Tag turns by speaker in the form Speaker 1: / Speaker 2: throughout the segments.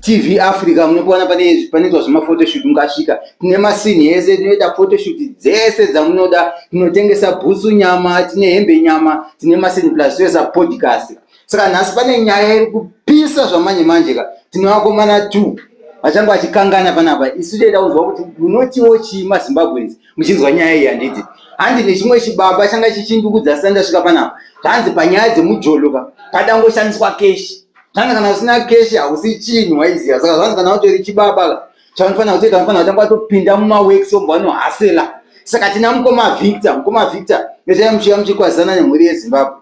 Speaker 1: TV Africa munokuwana pane panoitwa zvemaphotoshoot mukasvika tine masini ese tinoita photoshoot dzese dzamunoda tinotengesa bhutsu nyama tine hembe nyama tine masini plus toisa podcast saka nhasi pane nyaya iri kupisa zvamanje manje ka tinovakomana two vachange vachikangana panapa isu toita kunzwa kuti munotiwo chii mazimbabweans muchinzwa nyaya iyi handiti handi nechimwe chibaba changa chichindikudza sandasvika panapa zvanzi panyaya dzemujolo ka padangoshandiswa keshi Kana kana usina cash hausi chinhu waiziva saka zvanzi kana utori chibaba la chaunofanira kutoita unofanira kutanga watopinda mumaworks wobva wanohasela saka tina mukoma Victor mukoma Victor metai muchiya muchikwazisana nemhuri yeZimbabwe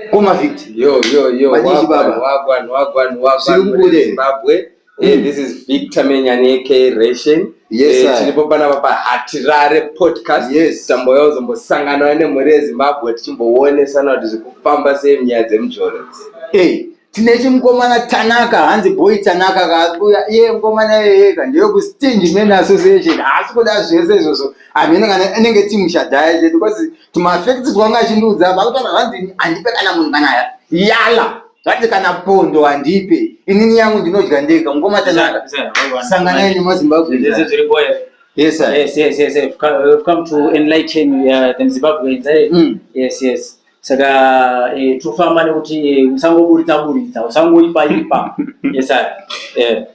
Speaker 1: mukoma Victor yo yo yo wagwan wagwan wagwan
Speaker 2: wagwan Zimbabwe Hey, eh, this is Victor Menyaneke Ration. Yes, eh, tiripo
Speaker 1: panapa
Speaker 2: pahatirare podcast yes. tamboya
Speaker 1: uzombosangana
Speaker 2: nemhuri yezimbabwe tichimboonesana kuti zvekufamba sei munyaya dzemujorisi hey. Eh, tine
Speaker 1: chimukomana tanaka hanzi boy tanaka kaauya iye mukomana yeyeka ndeyokustinge men association haasi kuda zvese izvozvo hamene kana inenge timushadhaya chedu Tumafekti twanga achindiudza apa kutaura zvanzi handipe kana munhu kana yala zvanzi kana pondo handipe inini yangu ndinodya ndega mukoma tanaka sanganai nemazimbabwe
Speaker 2: Yes, sir. Yes,
Speaker 1: yes, yes. We've come,
Speaker 3: we've come to enlighten uh, the Zimbabweans. Eh? Mm. Yes, yes. Saka eh, tofamba nekuti eh, usangoburitsa buritsa, usangoipa ipa. yes, sir. Yeah.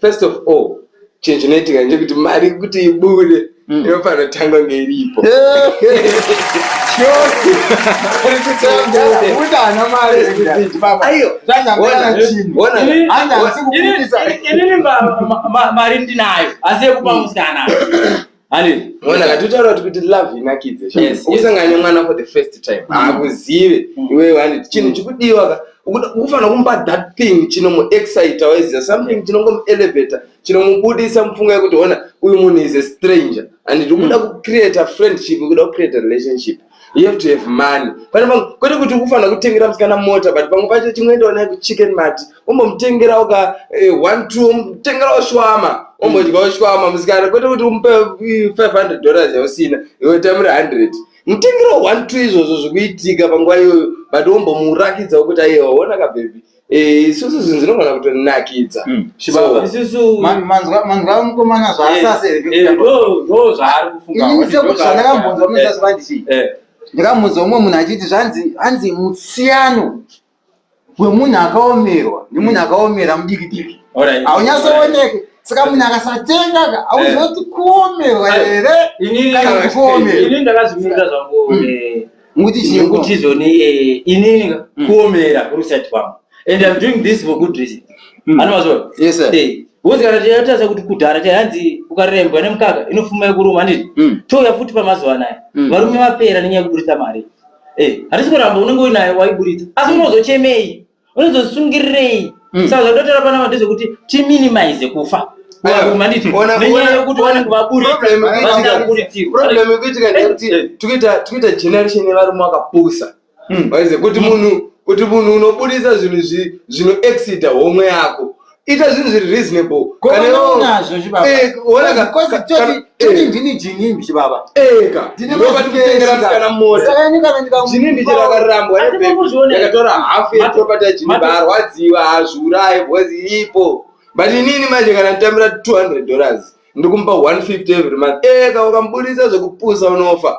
Speaker 2: First of all, chinhu chinoitika ndechekuti mari kuti ibude mm. inofanotangwa ngeiripo inini
Speaker 3: mari ndinayo asi yekupa musikana
Speaker 2: anezvatiutaura kuti love inakidze usangane mwana for the first time mm. haakuzive mm. iwewe handi chinhu mm. chikudiwa ka ukufanira kumupa that thing chinomuexcita waiziva something chinongomuelevata chinomubudisa mupfunga yekuti ona uyu munhu is a stranger and ndikuda kucreate a friendship ukuda kucreate a relationship You have to have money. Pane pamwe kwete kuti ukufanira kutengera musikana mota but pamwe pacho chimwendawo naye kuchicken mart ombomutengerawo ka eh, one two omutengerawo shwama ombodyawo shwama musikana kwete kuti umupe eh, 500 dollars yausina iwe tamira 100 mutengerawo one two izvozvo zvikuitika panguva iyoyo but ombomurakidzawo kuti aiwa wonaka bhebhi Eh, isusu zvinhu zvinogona kutonakidza hmm.
Speaker 1: manzwa mukomana zvaasasezvandakambunza
Speaker 3: munosasa
Speaker 1: vandichii ndakambunza umwe munhu achiti zvanzi musiyano wemunhu akaomerwa nemunhu hmm. akaomera mudiki diki haunyasooneke saka munhu akasatengaka auzoti eh. kuomerwa here kana kuti kuomerwa
Speaker 3: ngutizoni eh, inini mm. kuomera kuri kusati kwangu and im doing this for good reason mm. anomazoa eh,
Speaker 1: wozi kana tichataza
Speaker 3: kuti kudhara chahanzi ukarembwa nemukaka inofuma yekuruma handiti mm. touya futi pamazuva anaya varume vapera nenyaya yekuburitsa mari hatisi kuramba unenge uinayo waiburitsa asi unozochemei unozosungirirei mm. saka zvadotora panapa ndezvekuti timinimize kufa
Speaker 2: tikuita generation yevarume vakapusa mm. vaize kuti munhu kuti munhu unoburitsa zvinhu zvinoexida homwe yako ita zvinhu zviri reasonable kana iwe unazvo
Speaker 1: chibaba eh wona ka because toti toti ndini jini mbi chibaba eh ka ndine baba
Speaker 2: tikutengera kana mota saka ni kana ndika jini mbi chira karambwa ne baby ndakatora half ya property ya jini ba rwadziwa hazvurai because ipo but inini manje kana nditambira 200 dollars ndikumupa 150 every month eh ka ukamburitsa zvekupusa unofa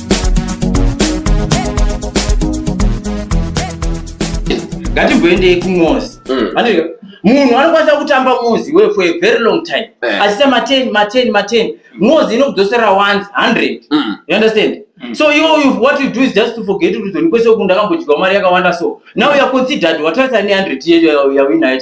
Speaker 3: ngatimboendei kumozi mm. munhu anokwanisa kutamba mozi we for a very long time eh. achisa maten maten maten mozi inokudzosera once hundred mm. you understand mm. so you, you, what you do is just to forget kuti zoni kwese uku ndakambodyiwa mari yakawanda so now youare considered watarisa ne hundred yawinayo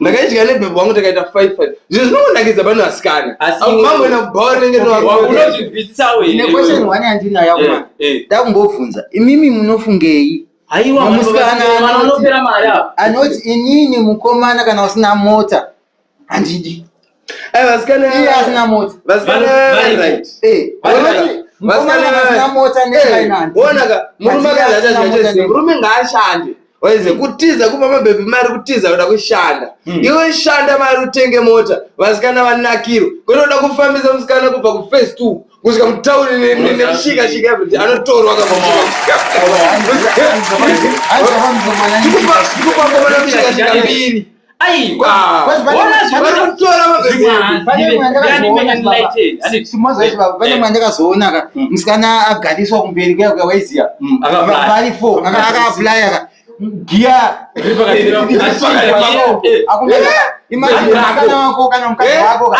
Speaker 2: ndakaidya nebhebha wangu takaita five five zvinhu zvinongonakidza pane vasikana mamwe nabhawa rinenge rinoaunozvibvisisawenequestion
Speaker 3: one
Speaker 1: yandinayo eh, ma eh. ndakumbobvunza imimi munofungei aiwamusikana
Speaker 3: anoti inini
Speaker 1: mukomana kana usina mota handidi Eh, vasikana
Speaker 2: iye ava- asina mota
Speaker 1: vasikana Vari- ava vari- right.
Speaker 2: Eh, Vari- vanoti
Speaker 1: Vari- mukomana Vasikana asina ava- mota Eh, nefinance. ona ka, murume Asi
Speaker 2: iye asina mota akazaaa ne- murume ngaashande waize kutiza kupa mabhebhi mari kutiza kuda kushanda Hmm. iwe shanda mari utenge mota vasikana vanakiro kwete uda kufambisa musikana kubva kufirst two kusvika mutauni ne- ne- nekushikashika kuti anotorwa Hanzi vakamuzomana ne- kakupakomana kushikashika mbiri
Speaker 1: pane mwana ndakazoona ka musikana agariswa kumberi kuyaka waiziya vari fo akaaplaya ka giya imagine mwana wako kana mukadzi wako ka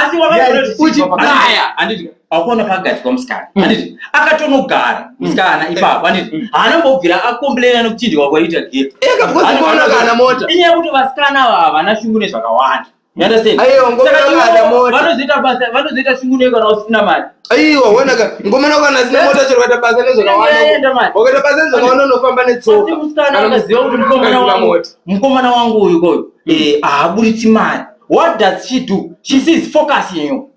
Speaker 3: akuona pagadzikwa musikana mm. anditi akatonogara mm. musikana ipapo anditi mm. haana mbobvira akomplaina nekuchinjwa kwaita geaana
Speaker 2: mota inyaya kuti vasikana
Speaker 3: ava havana shungu nezvakawanda vanozoita shungu nei kana usina mari aiwa wonaka
Speaker 2: ngomana kana asina eh? mota chero kaita basa nezvakawandaukaita basa nezvakawanda unofamba netsoka anoziva kuti
Speaker 3: mukomana wangu uyu koyo eh, haaburitsi mari what does she do she sees focusing you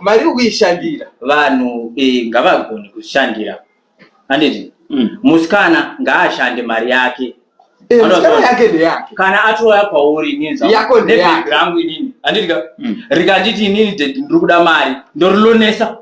Speaker 2: mari ukuishandira vanhu eh,
Speaker 3: ngavagone kushandira anditi mm. musikana ngaashande mari yake eh, kana atouya kwauri ininirangu inini andidika mm. rikanditi inini ndiri kuda mari ndorilonesa